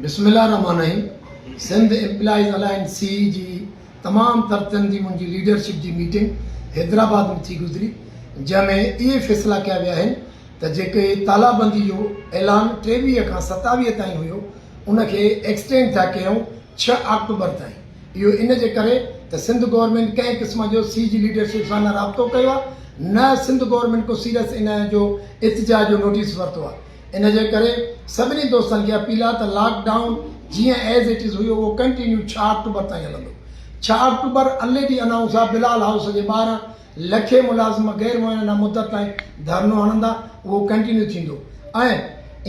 بسم الله الرحمٰن الرحيم سنڌ امپلائيز الائنس سي جي تمام تر تن جي منهنجي ليڊرشپ جي ميٽنگ حيدرآباد ۾ ٿي گذري جنهن ۾ اهي فيصلا ڪيا ويا آهن ته جيڪي تالابندي جو اعلان ٽيويهه کان ستاويهه تائين هيو ان کي ايڪسٽينڊ ٿا ڪيون ڇهه آڪٽوبر تائين اهو ان جي ڪري ته سنڌ گورنمينٽ ڪنهن قسم جو سي جي ليڊرشپ سان نه رابطو ڪيو آهي نه سنڌ گورنمينٽ ڪو سيريس ان جو اتجاهه جو نوٽيس ورتو آهي ان جي ڪري سڀني دوستن کي اپيل آهي ته لاڪ ڊائون جيئن ايز اٽ از هيو اهو ڪنٽينيو ڇهه آڪٽوبر تائين هلندو ڇهه آڪٽوبر اڻ ڊي انائونس آهي بلال هائوس جي ٻاهران لکين ملازم غير معينه مدت تائين ڌرنو هڻندا اهو ڪنٽينيو ٿيندو ۽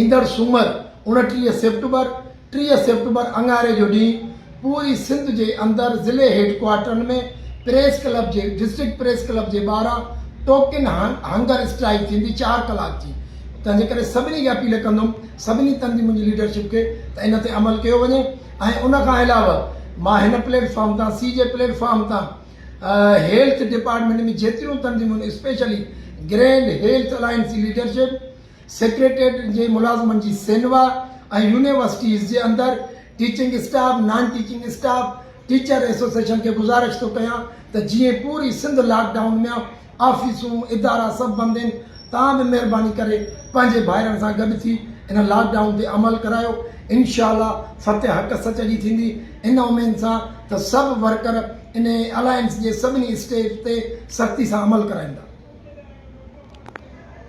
ايندڙ سومر اڻٽيهه سيپٽمبر ٽيهه سيپٽمبر اڱاري جو ڏينهن پوري سنڌ جي اندر ضلعي هيڊ ڪوارٽرن ۾ پريس ڪلب جي ڊسٽرڪٽ پريس ڪلب جي ٻاهران ٽوڪن هنگر اسٽرائيڪ ٿيندي چار ڪلاڪ جي تنهنجي ڪري سڀني کي اپيل ڪندم سڀني تنظيم منهنجي ليڊرشپ کي ته ان تي عمل ڪيو وڃي ۽ ان کان علاوه مان هن پليٽ فارم تان سي جي پليٽ فارم تان هيلٿ ڊپارٽمنٽ ۾ جيتريون تنظيمون اسپيشلي گرينڊ هيلٿ الائنس جي ليڊرشپ سيڪريٽريٽ جي ملازمن جي سينوا ۽ يونيورسٽيز جي اندر teaching staff, non teaching staff, teacher association کي گذارش ٿو ڪيان ته جيئن پوري سنڌ لاڪ ڊائون ميان آفيسون، ادارا سڀ بند هين توهان به مهرباني ڪري پنهنجي ڀائرن سان گڏ ٿي ان لاڪ ڊائون تي عمل ڪرايو انشاء الله فتح حق سچ جي ٿيندي ان اميد سان ته سڀ ورڪر ان الائنس جي سڀني اسٽيج تي سختي سان عمل ڪرائيندا.